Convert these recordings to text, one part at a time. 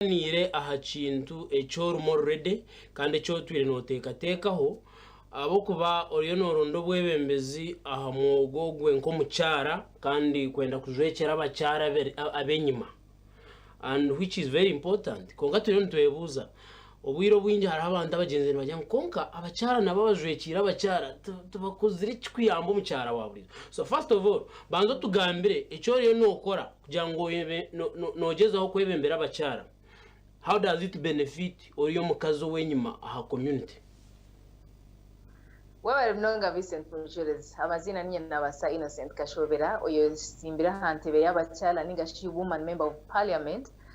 Tugaaniire aha kintu eki orimu oruredi kandi eki otwire nooteekateekaho ahabw'okuba oriyo nooronda obwebembezi aha mwogo ogwe nk'omukyara kandi kwenda kujwekyera abakyara ab'enyima and which is very important. Kwonka turiyo nitwebuuza, obwire obwingi hariho abantu abagyenzi nibagira ngu kwonka abakyara nabo abajwekyeire abakyara tibakozire ki kuyamba omukyara wa buriijo? So first of all banza otugambire eki oriyo nookora Kugira ngu oyebe no, no, noogyezaho kwebembera abakyara, how does it benefit ori omukazi ow'enyima aha community? Webare munonga Vincent Mucureezi. Amaziina niinye Nabasa Innocent Kashobera oyoyetsimbire aha ntebe y'abakyala ningashi Woman Member of Parliament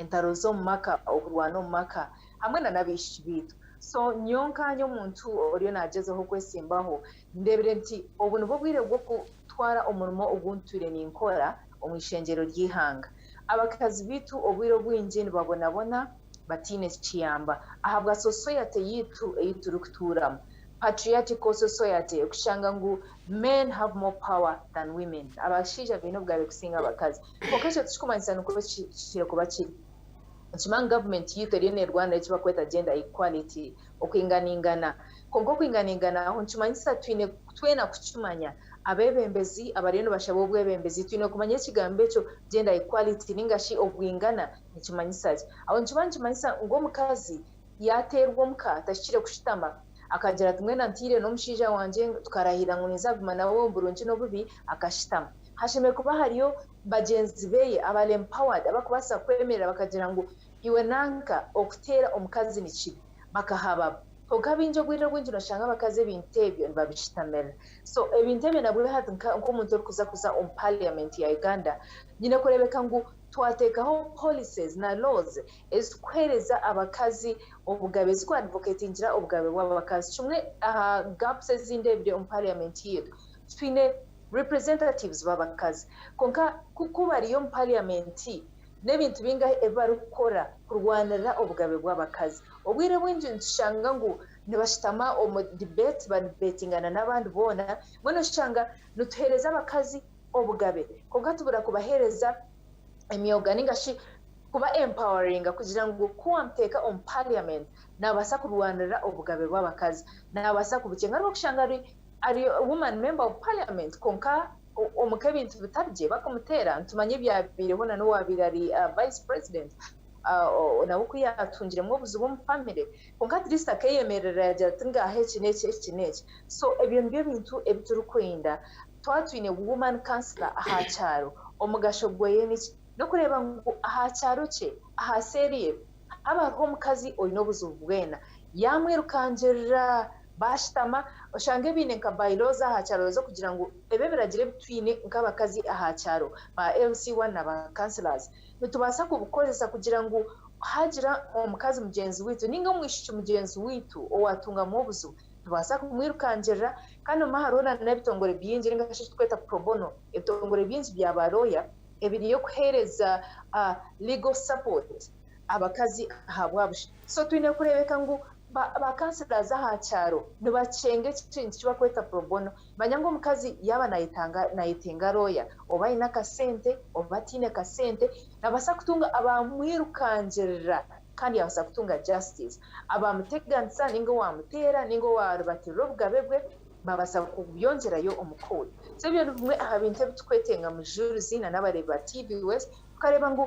entaro z'omu maka, okurwana omu maka hamwe na n'abaishiki baitu. So nyowe nkanye omuntu oriyo nagyezaho okwesimbaho, ndebire nti obu nibwo bwire bw'okutwara omurimo ogu ntwire ninkora omu ishengyero ry'eihanga. Abakazi baitu obwire obwingi nibabonabona bataine kiyamba ahabwa sosoyate yaitu ei turikutuuramu, patriarchical society, okushanga ngu men have more power than women, abashaija baine obugabe kusinga abakazi. Kwonka ekyo tikirikumanyisa nikwo kihikire kuba kiri. Nikimanyisa ngu gavumenti yaitu eriyo neerwanira eki barikweta Gender Equality, okwinganingana. Kwonka okwinganingana aho nikimanyisa twine twena kukimanya. Abeebembezi abariyo nibashaba obwebembezi twine kumanya ekigambo ekyo Gender Equality nainga shi obwingana nikimanyisa ki. Aho nikimara nikimanyisa ngu omukazi yaateerwa omuka, tahikire kushutama, Akagira ati, Mbwenu ntaire n'omushaija wangye, tukarahirira ngu ninzaguma nawe omu burungi n'obubi, akashitama. Hashemereire kuba hariyo bagyenzi be abal-empowered abarikubaasa kwemerera bakagira ngu iwe nanka okuteera omukazi ni kibi. Bakahabaho. Kwonka baingi obwire obwingi nooshanga abakazi ebintu ebyo nibabishitamirira. So ebintu ebyo nabwe hati nk'omuntu orikuza kuza omu parliament ya Uganda, nyine kureebeka ngu twateekaho policies na laws ezikuhereza abakazi obugabe ziku advocatingira obugabe bwabakazi kimwe aha gaps ezindi ebiri omu parliament yaitu twine representatives babakazi kwonka ku kubariyo omu parliament nebintu bingahi ebibarikukora kurwanirira obugabe bwabakazi obwire bwingi nitushanga ngu nibashitama omu debate ba debatingana nabandi boona mbwenu oshanga nituhereza abakazi obugabe kwonka tubura kubahereza emyoga ninga shi kuba empoweringa kugira ngu ku wamuteeka omu parliament nabasa kurwanirira obugabe bw'abakazi nabasa kubukyenga ari bakushanga ari ari woman member of parliament konka omu k'ebintu bitari gye bakumuteera nitumanya ebyabeireho na n'owabeire ari vice president nawe ku yatungiremu obuzibu omu family konka at least akeyemerera yagira ati ngaha eki n'eki eki n'eki so ebyo nibyo ebintu ebi turikwenda Twaba twine Woman Councillor aha kyaro, omugasho gweye niki? N'okureeba ngu aha kyaro kye, aha seeri ye, haaba hariho omukazi oine obuzibu bwena. Yaamwirukangirira, baashutama, oshange baine nka by laws aha kyaro z'okugira ngu ebi ebiragiro ebi twine nk'abakazi aha kyaro, ba LC I na ba Councillors, nitubaasa kubikoresa kugira ngu haagira omukazi mugyenzi waitu nainga omwishiki mugyenzi waitu owaatungamu obuzibu, Nitubaasa kumwirukangirira, kandi omwe hariho na n'ebitongore bingi ninga shi ekitweta pro bono, ebitongore bingi bya ba looya ebiriyo kuheereza legal support abakazi ahabwa busha. So twine kureebeka ngu ba councilors aha kyaro nibakyenga ekintu eki barikweta pro bono. Manya ngu omukazi yaaba nayetanga nayetenga looya oba aine akasente oba ataine kasente, nabaasa kutunga abamwirukangirira Kandi yaabaasa kutunga justice. Abaamuteganisa nainga owaamuteera nainga owaaribatirira obugabe bwe baabaasa kubyongyerayo omu court. So ebyo nibimwe aha bintu ebi turikwetenga mujuurizi na n'abareebi ba TVS tukareeba ngu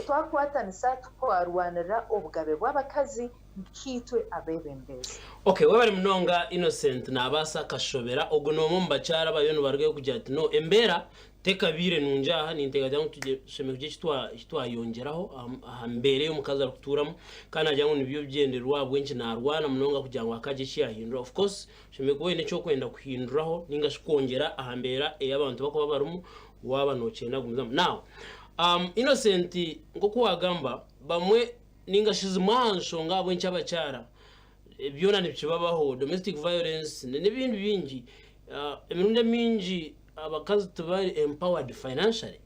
twakwatanisa twarwanirira obugabe bw'abakazi nkaitwe abeebembezi. Okay, webare munonga Innocent Naabaasa Kashobera. Ogu noomwe omu bakyara abariyo nibarugayo kugira ati no embeera Tekabaire nungi aha, ninteekateeka ngu tushemereire kugira eki twayongyeraho aha mbeera ei omukazi arikutuuramu kandi naagira ngu nibyo bigyendererwa ahabw'enki naarwana munonga kugira ngu hakagye eki yaahindura. Of course oshemereire kuba oine eki orikwenda kuhinduraho nainga shi kwongyera aha mbeera ei abantu barikuba barimu waaba nookyenda kugumizamu. Now Innocent nk'oku waagamba bamwe nainga shi zimwe aha nshonga ahabw'enki abakyara byona nibikibabaho, domestic violence n'ebindi bingi, emirundi emingi abakazi tibari empowered financially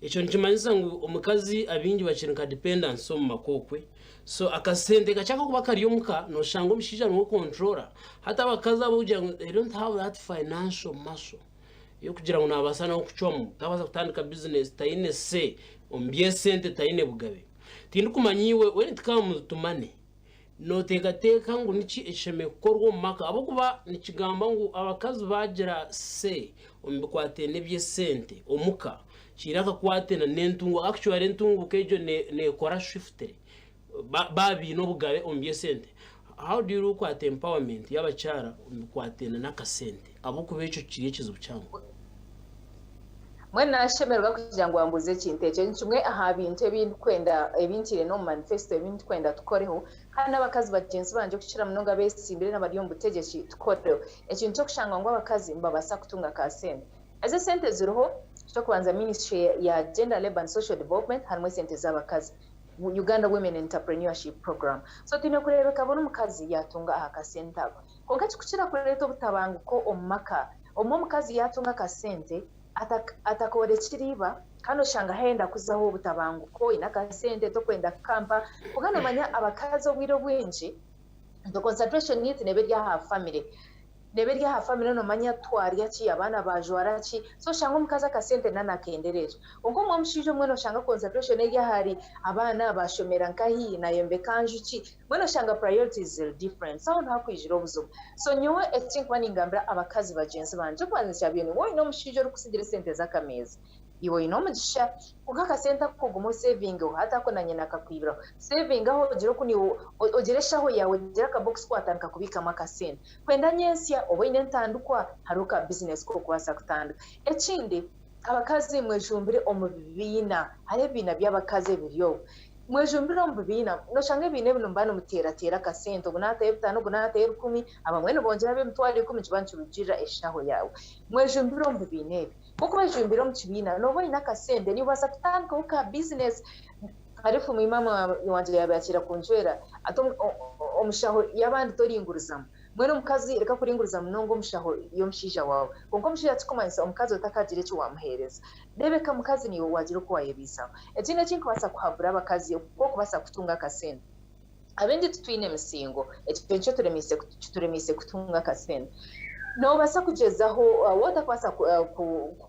ekyo nikimanyisa ngu omukazi abingi bakiri nka dependency omu maka okwe so akasente kakye akakuba kari omuka noshanga omushaija niwe okontrola hati abakazi abo kugira ngu they don't have that financial muscle eyokugira ngu nabasa nawe kucwamu tabasa kutandika business tayine say omu byesente tayine bugabe tindikumanya iwe when it comes to money Nooteekateeka ngu niki ekishemereire kukorwa omu maka ahabw'okuba nikigamba ngu abakazi baagira say omu bikwataine n'eby'esente omuka, kiine akakwate n'entunguuka. Actually entunguuka egyo neekora swiftly baaba baine obugabe omu by'esente. How do you look at empowerment y'abakyara omu bikwataine n'akasente? Ahabw'okuba ekyo kiri ekizibu kihango. Mbwenu naashemererwa kugira ngu ambuuze ekintu ekyo. Ni kimwe aha bintu ebi ndikwenda, ebi ntiire n'omu manifesto, ebi ndikwenda tukoreho, kandi n'abakazi bagyenzi bangye okukira munonga abeetsimbire n'abari omu butegyeki tukoreho ekintu ky'okushanga ngu abakazi nibabaasa kutunga ka sente. Ezo esente eziriho, eky'okubanza ministry ya Gender, Labour and Social Development harimu esente z'abakazi, Uganda Women Enterprenuership Program. So twine kureebeka buri mukazi yaatunga aha ka sente ako. Kwonka kikukira kureeta obutabanguko omu maka omu omukazi yaatunga akasente atakoorekire iba kandi oshanga haayenda kuzaho obutabanguko, oine akasente tokwenda kukampa. Kwonka noomanya abakazi obwire obwingi the concentration needs neeba eri aha famire, neeba eri aha famire noomanya twarya ki, abaana baajwara ki so oshanga omukazi akasente nawe naakendereera. Kwonka omu omushaija obumwe nooshanga concentration eri ahari abaana, baashomera nkahi, naayombeka nju ki Mbwenu oshanga priorities ziri different so aho niho hakwijira obuzibu. So nyowe ekinkuba ningambira abakazi bagyenzi bangye ekyokubanza nikyabiire niwe oyine omushaija orikusigira esente zakameeza iwe oyine omugisha kwonka akasente ako ogume osevingeho hati ako na nyina akakwibiraho sevingaho ogire oku niiwe ogire eshaho yaawe ogire aka box ku watandika kubiikamu akasente kwenda nyentsya oba oyine entandikwa hariho ka business kokubaasa kutandika. Ekindi. Abakazi mwejumbire omu bibiina, hariho ebibiina by'abakazi ebiriyo. Mwejumbire omu bibiina, noshanga ebibiina ebi nimuba nimuteerateera akasente, ogu naataho ebitaano, ogu naataho ebikumi, abamwe nibongyera ab'emitwaro ikumi nikiba nikirugiirira eshaaho yaawe. Mwejumbire omu bibiina ebi. Kwonka wejumbire omu kibiina, nooba oine akasente, noobaasa kutandikaho ka bizineesi. Hariho efumu ei maama wangye yaabaire akiira kuncwera, ati omushaho y'abandi toringurizamu. Mbwenu omukazi reka kuringuriza munonga omu shaho y'omushaija waawe. Kwonka omushaija tikikumanyisa omukazi we takaagira eki waamuheereza. Reebeka mukazi niiwe waagira oku waayebaisaho. Ekindi eki nikubaasa kuhabura abakazi oku okubaasa kutunga akasente. Abaingi titwine misingo, ekyo nikyo turemiise kituremiise kutunga akasente. Noobaasa kugyezaho waatakubaasa ku ku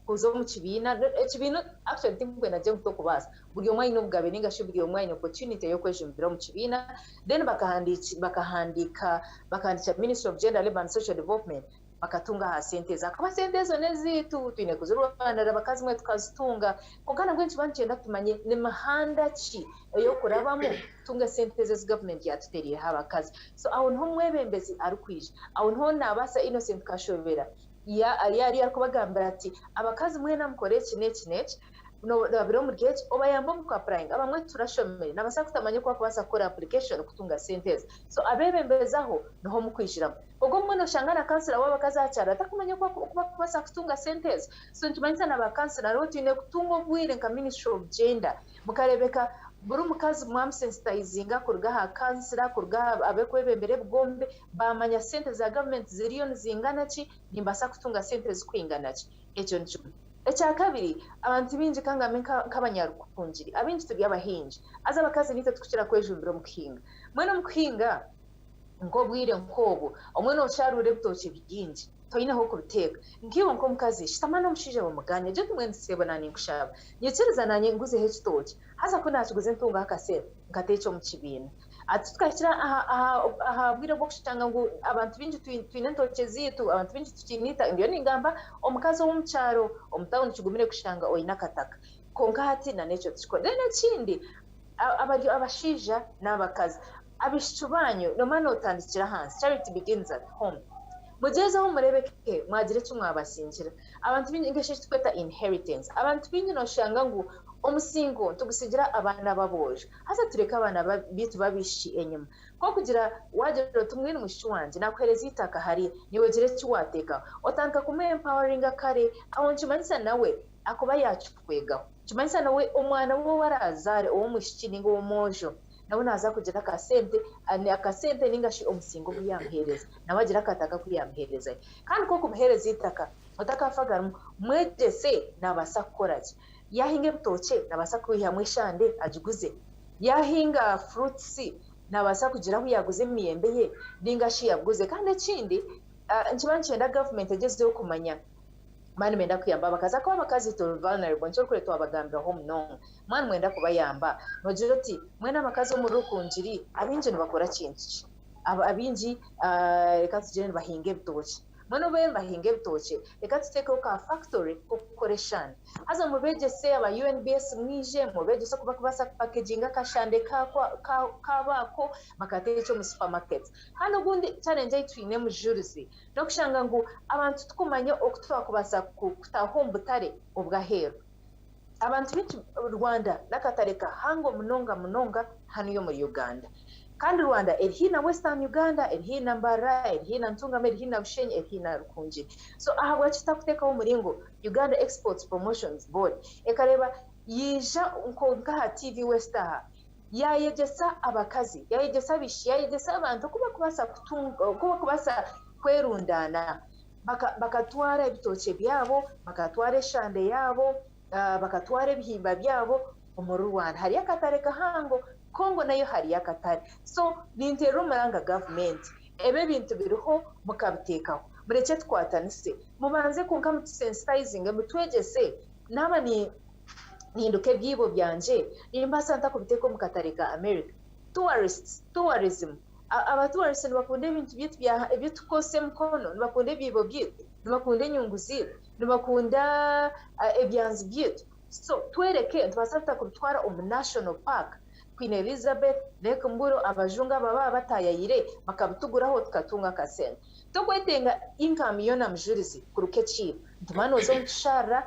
kuza omu kibiina, ekibiina actually tinkwenda ngire ngu tokubaasa, buri omwe aine obugabe nainga shi buri omwe aine opportunity y'okwejumbira omu kibiina then bakahandiiki bakahandiika bakahandiikira ministry of gender labour and social development bakatunga aha sente ezo ahakuba sente ezo neziitu twine kuzirwanira baka zimwe tukazitunga kwonka nabwe nikiba nikyenda tumanye nimihanda ki eyokurabamu kutunga sente ezo ezi government yatutereireho abakazi so aho niho omwebembezi arikwija aho niho nabaasa Innocent Kashobera ya yariyo arikubagambira ati abakazi mwena mukore eki neki neki nobabire omuri egi obayambe omu ku apurayinga abamwe turashomire nabaasa kutamanya oku bakubaasa kukora apurikashoni kutunga sente ezi so abebembezi aho niho mukwijiramu kwonka obumwe noshanga na kansila wabakazi aha kyaro atakumanya oku bakubaasa kutunga sente ezi so nikimanyisa na ba kansila nabo twine kutunga obwire nka minisitule ofu jenda mukareebeka buri omukazi mwamusensitayizinga kuruga aha kansila kuruga aha abekwebembera ebigombe bamanya sente za gavumenti ziriyo nizingana ki nimbaasa kutunga sente ezi kwingana ki Ekyo ni kimwe. Ekya kabiri, abantu baingi ka ngambe nk'abanyarukungiri, abaingi turi abahingi. Haza abakazi niitwe turikukira kwejumbira omu kuhinga. Mbwenu omu kuhinga nk'obwire nk'obwo, obumwe noosharuura ebitookye bingi toine h'okubiteeka. Nkaiwe nk'omukazi, shutama n'omushaija bamugane, gye ote mwene seebo naanye nkushaba, nyikiriza naanye nguzeho ekitookye. Haza ku naakiguza ntungaho akasente nkateekye omu kibiina. Ati, Tukahikira aha bwire bw'okushanga ngu abantu baingi twine entookye zaitu, abantu baingi tikiine itaaka. Ndiyo ningamba omukazi ow'omu kyaro, omu tauni kigumire kushanga oine akataka. Kwonka hati nan'ekyo tikikora. Then ekindi, abari abashaija n'abakazi, abaishiki baanyu noomanya nootandikira ahansi, charity begins at home. Mugyezeho mureebe ke mwagira eki mwabasingira. Abantu baingi ninga shi eki turikweta inheritance. Abantu baingi nooshanga ngu omusingo nitugutsigira abaana b'aboojo. Haza tureke abaana baitu b'abaishiki enyima. Nk'okugira waagira oti, Mbwenu mushiki wangye, naakuheereza eitaka hariya, naiwe ogira eki waateekaho. Otandika kumu empoweringa kare, aho nikimanyisa nawe akuba yaakikukwegaho. Nikimanyisa nawe omwana we ou araazaare ow'omwishiki nainga ow'omwojo, nawe naaza kugira akasente, akasente nainga shi omusinga ogu yaamuheereza, nawe agire akataka aku yaamuheerezayo. Kandi nk'okubuheereza eitaka, otakafagarimu, mwegyese naabaasa kukora gye. Yaahinga ebitookye naabaasa kwihamu eshande agiguze. Yaahinga furuutisi naabaasa kugira ahu yaaguza emiyembe ye nainga shi yaguze. Kandi ekindi nikiba nikyenda gavumenti egyezeho kumanya baba nibenda kuyamba abakazi ahakuba abakazi turi vulnerable nikyo orikureeba twabagambiraho munonga. Mwaba nimwenda kubayamba noogira oti, Mbwenu abakazi omuri Rukungiri abaingi nibakora kintu ki? Abaingi reka tugire nibahinga ebitookye. Mbwenu obwo eeh mbahinga ebitookye reka tuteekeho ka factory k'okukora eshande haza mubegyese aba UNBS mwije mubegyese oku bakubaasa ku packaginga akashande kaabo ako bakateekye omu supermarket kandi ogundi challenge ei twine Mujurizi n'okushanga ngu abantu tikumanya oku twakubaasa kutaho omu butare obw'aheeru Abantu b'eki Rwanda n'akatare ka Hango munonga munonga hanu y'omuri Uganda. Kandi Rwanda eri haihi na Western Uganda, eri haihi na Mbarara, eri haihi na Ntungamo, eri haihi na Bushenyi, eri haihi na Rukungiri. So ahabwaki tutakutekaho omuringo Uganda Exports Promotions Board ekareba yaija nka aha TV West aha yayegyesa abakazi, yayegyesa abaishiki, yayegyesa abantu oku bakubasa kutunga, oku bakubasa kwerundaana Baka, bakatwara ebitookye byabo, bakatwara eshande yaabo, ah, bakatwara ebihimba byabo omuri Rwanda. Hariyo akatare kahango. Congo nayo hariyo akatare. So, ninteerra omuranga gavumenti. Ebi ebintu biriho, mukabiteekaho. Murekye tukwatanise. Mubanze kwonka mutusensitizinge, mutwegyese. Naaba ni, ninduka ebyiibo byangye, nimbaasa nta kubiteeka omu katare ka America? Tourists, tourism, Abatuurisha nibakunda ebintu byaitu ebitukukoresa emikono, nibakunda ebyibo byaitu, nibakunda enyungu zaitu, nibakunda ebyanzi byaitu so tworeke nitubaasa tuta kubitwara omu National Park, Queen Elizabeth, Lake Mburo abajungu abo ababa bataayaire bakabituguraho tukatunga akasente. Tokwetenga income yoona mujurizi kuruka ekiina nti maani oze omu kisharara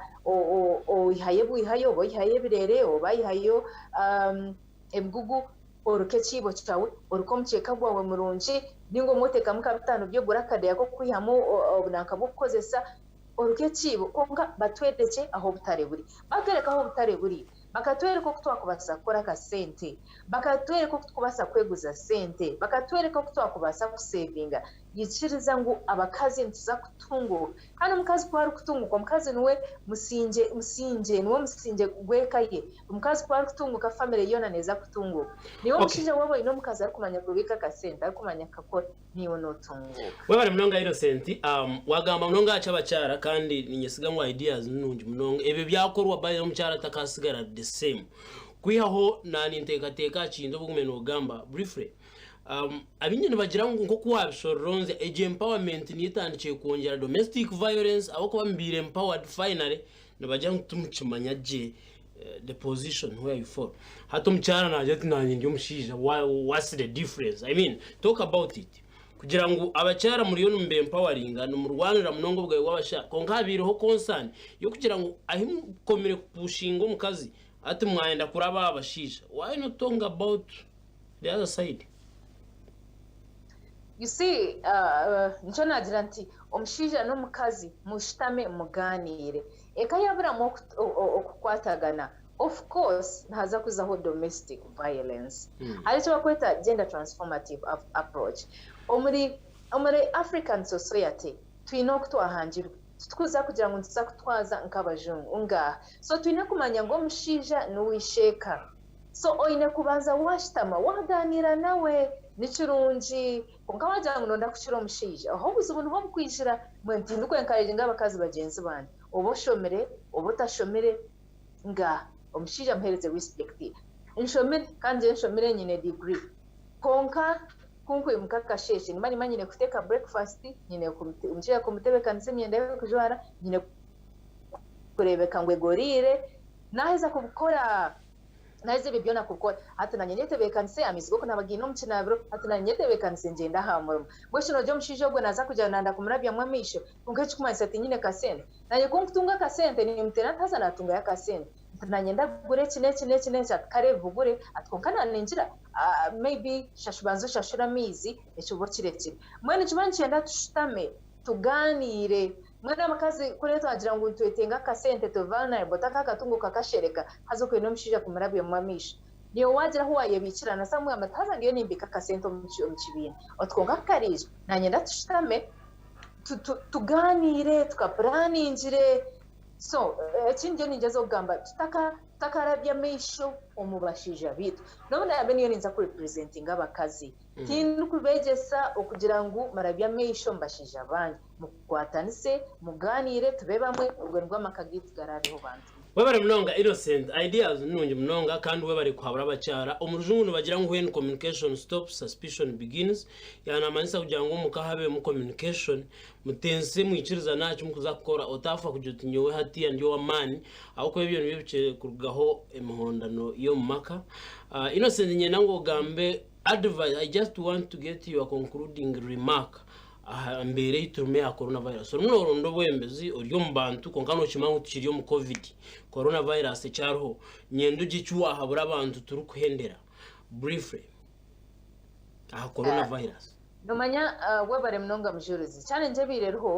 oyihayo ebwihayo oba oyihayo ebireere oba oyihayo ebigugu, oreka ekiibo kyawe, oreka omukyeka gwawe murungi ninga obumwe otekamu nka bitaano by'ogura akadeeya k'okukwihamu obunanka bw'okukozesa, oreka ekiibo kwonka batworekye ahu obutare buri, batworeka ahu obutare buri bakatworeka oku twakubaasa kukora akasente, bakatworeka oku tukubaasa kweguza sente, bakatworeka oku twakubaasa kusevinga. Yikiriza ngu abakazi nituza kutunguuka. Kandi omukazi ku arikutunguuka, omukazi niwe musingye musingye, niwe musingye gw'eka ye. Omukazi ku arikutunguuka, famire yoona neeza kutunguuka. Naiwe Okay. omushaija waaba oine omukazi arikumanya kubiika akasente, arikumanya kukakora, naiwe nootunguuka. Webare munonga Innocent, um, wagamba munonga aha ky'abakyara kandi ninyesiga ngu ideas ni nungi munonga. Ebyo byakorwa by the way omukyara takasigara the same. Kwihaho na nintekateka aha kintu obu ogume nogamba briefly. Abaingi nibagira ngu nk'oku waabisororonzya egyo empowerment niyo etandikire kwongyera domestic violence ahabw'okuba mubaire empowered finally nibagira ngu timukimanya gye the position where you fall. Hati omukyara naagira ati naanye ndi omushaija what's the difference? I mean talk about it. Kugira ngu abakyara muriyo nimuba empoweringa nimurwanira munonga obugabe bw'abashaija kwonka habaireho concern y'okugira ngu ahi mukomire kupushinga omukazi hati mwayenda kuraba aha bashaija why not talking about the other side. You see nikyo naagira nti omushaija n'omukazi mushutame mugaaniire eka yaaburamu okukwatagana of course nihaza kuzaho domestic violence. Hariho eki barikweta gender transformative approach. Omuri African society twine oku twahangirwe titwija kugira ngu nituza kutwaza nk'abajungu ngaaha so twine kumanya ngu omushaija niwe isheeka so oine kubanza washutama waganiira nawe nikirungi kwonka wagira ngu nonda kukira omushaija aho obuzibu niho bukwijira mbwenu tindi ku encouraginga abakazi bagyenzi bangye oba oshomire oba otashomire nga omushaija muhereze respect ye nshomire kandi ngye nshomire nyine degree kwonka ku nkwimuka akasheeshe nimba nimanya nyine kuteeka breakfast nyine omushaija kumutebekanisa emyenda ye y'okujwara nyine kureebeka ngu egoriire Naaheza kubikora, naaheza ebyo byona kukora, hati naanye nyetebeekanise amaizi g'okunaaba gaine omu kinaabiro, hati naanye nyetebeekanise ngyende aha murimo. Mbwenu shi nogira omushaija ogwo naaza kugira ngu nanda kumurabyamu amaisho kwonka ekirikumanyisa tiinyine kasente? Naanye ku nkutunga akasente nimuteera nti haza naatungayo akasente nti naanye ndagura eki n'eki n'eki n'eki ati kare bigure ati kwonka naaningira maybe shashu banza oshashure amaizi eki oba okirekire. Mbwenu nikyo nikiba nikyenda tushutame tugaaniire Mwana mukazi kuriya twagira ngu nitweteenga akasente turi vulnerable taka akatungo kakashereka haza okwenda omushaija kumurabyamu amaisho naiwe wagira ahu wayebiikira na Samuel ati haza ndiyo nimbiika akasente omu kibiina oti kwonka ku kariija nanyenda tushutame tugaaniire tukapuraningire so eki ndiyo ningyezaho kugamba tutaka tutakarabya amaisho omu bashaija baitu n'obu naabe niyo ninza ku representinga abakazi tindikubegyesa okugira ngu murabye amaisho omu bashaija banyu Mukukwatanise, mugaaniire, tube bamwe, obwe nibwo amaka gaitu garaabeho bantu be. Webare munonga Innocent, ideas ni nungi munonga kandi webare kuhabura abakyara. Omu rujungu nibagira ngu when communication stops, suspicion begins, ya namanyisa kugira ngu omuka habemu communication, mutense, mwikirizane aha ki mukuza kukora, otafa kugira oti nyowe hatiya ndi ow'amaani, ahabw'okuba ebyo nibyo bikire kurugaho emihondano y'omu maka. Innocent niinyenda ngu ogambe advice, I just want to get your concluding remark Aha mbeera ei turimu eya coronavirus, orimu nooronda obwembezi ori omu bantu kwonka nookimanya ngu tukiri omu Covid. Coronavirus ekyariho, nyenda ogye eki waahabura abantu turikuhendera briefly aha coronavirus. Noomanya, webare munonga Mujurizi. Challenge ebaire eriho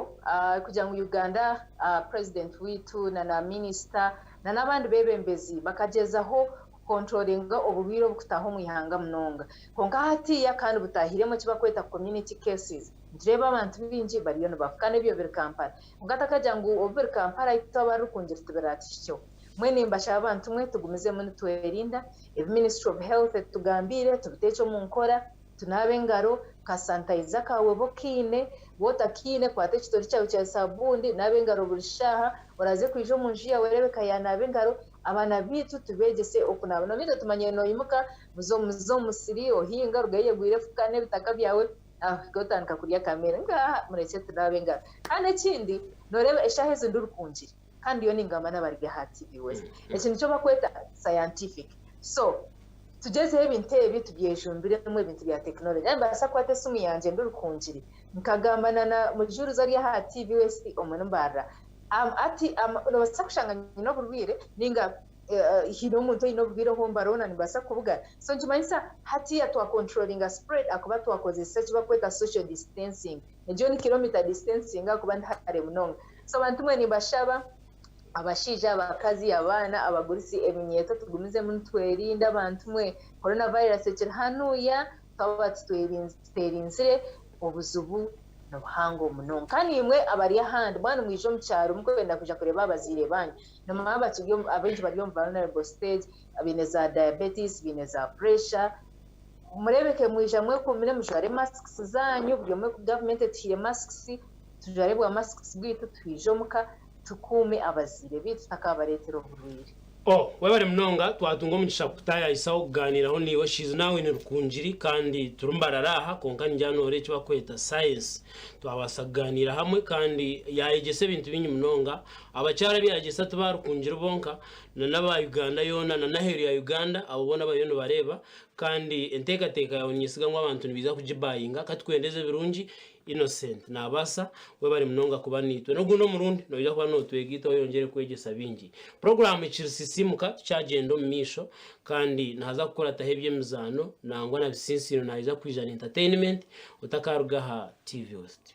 kugira ngu Uganda, President waitu na Minister na n'abandi beebembezi bakagyezaho kukontrolinga oburwaire obukutaho omu ihanga munonga kwonka hatiiya kandi butaahiremu eki barikweta community cases nitureeba abantu baingi bariyo nibafa kandi ebyo biri Kampala kwonka takagira ngu obu biri Kampala itwe abari Rukungiri tibiraatuhikyeho mbwenu nimbashaba abantu mwe tugumizemu nitwerinda ebi ministry of health etugambiire tubiteekye omu nkora tunaabe engaro ka sanitizer kaawe obe okaine waaba otakaine kwata ekitori kyawe kya saabuuni naaba engaro buri shaaha oraaze kwija omu nju yaawe reebeka yaanaaba engaro Abaana baitu tubeegyese okunaaba. Nobiita tumanyire noimuka, muze omu musiri ohinga, orugayo oyegwire efuka n'ebitaka byawe, ohike otandika kurya akameere. Ngaaha murekye tunaabe engaro. Kandi ekindi, noreeba eshaaha ezi ndurikungire ka ndiyo ningamba n'abaribyo aha TV West. Eki nikyo bakweta scientific. So, tugyezeho ebintu ebi tubyejumbiremu ebintu bya technology. Nyowe nimbaasa kukwata esimu yangye ndurikungire, nkagamba na na mujuurizi ari aha TV West omu nimbaarira. Hati nobaasa kushanga nyine oburwaire ninga haine omuntu oine oburwaire obu mbara hoona nibaasa kubugana so nikimanyisa hatiiya twa controllinga spread ahakuba twakozesa eki barikweta social distancing egyo ni kilometer distancing ahakuba ni hare munonga so bantu mwe nimbashaba abashaija, abakazi, abaana, abagurusi ebinyeeto tugumizemu nitwerinda bantu mwe Corona virus ekiri hanuuya twaba tuteerinzire obuzibu ni buhango munonga. Kandi imwe abari ahandi, mwaba nimwija omu kyaro murikwenda kwija kureeba abazaire baanyu, nimumanya abaingi bari omu vulnerable stage, baine za diabetes, baine za pureesha, mureebeke mwija mwekuumire, mujware masiki zaanyu, buri omwe, gavumenti etuhaire masiki, tujware bwa masiki bwaitu twije omuka, tukuume abazaire baitu tutakaabareetera oburwaire. O, webare munonga, twatunga omugisha kukutayayisaho kugaaniraho naiwe. She is now in Rukungiri kandi turi mbarara aha, kwonka ningira noora eki bakweta Science. Twabaasa kugaaniira hamwe kandi yaayegyesa ebintu bingi munonga. Abakyara ebi yaayegyesa ti ba Rukungiri bonka, na n'aba Uganda yoona na n'aheeru ya Uganda, abo boona bariyo nibareeba. Kandi enteekateeka yaawe ninyesiga ngu abantu nibaija kugibayinga. Ka tukuhendeze birungi. Innocent, Naabaasa, webare munonga kuba naitwe. N'ogundi omurundi noija kuba nootwega itwe oyongyere kwegyesa baingi. Puroguraamu Kirisisiimuka tukyagyenda omu maisho kandi nihaza kukurataho eby'emizaano nangwa na bitsiintsiino naija kwija na entertainment otakaaruga aha TV West.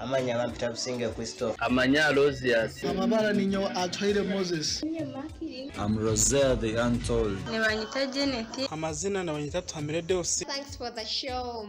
Amanya bampita Businge Christopher. Amanya Alozius. Amabara ninyowe Atuhaire Moses. Am Roselle the untold. Nibanyita Janet. Amazina nibanyita Atuhamire Deus. Thanks for the show.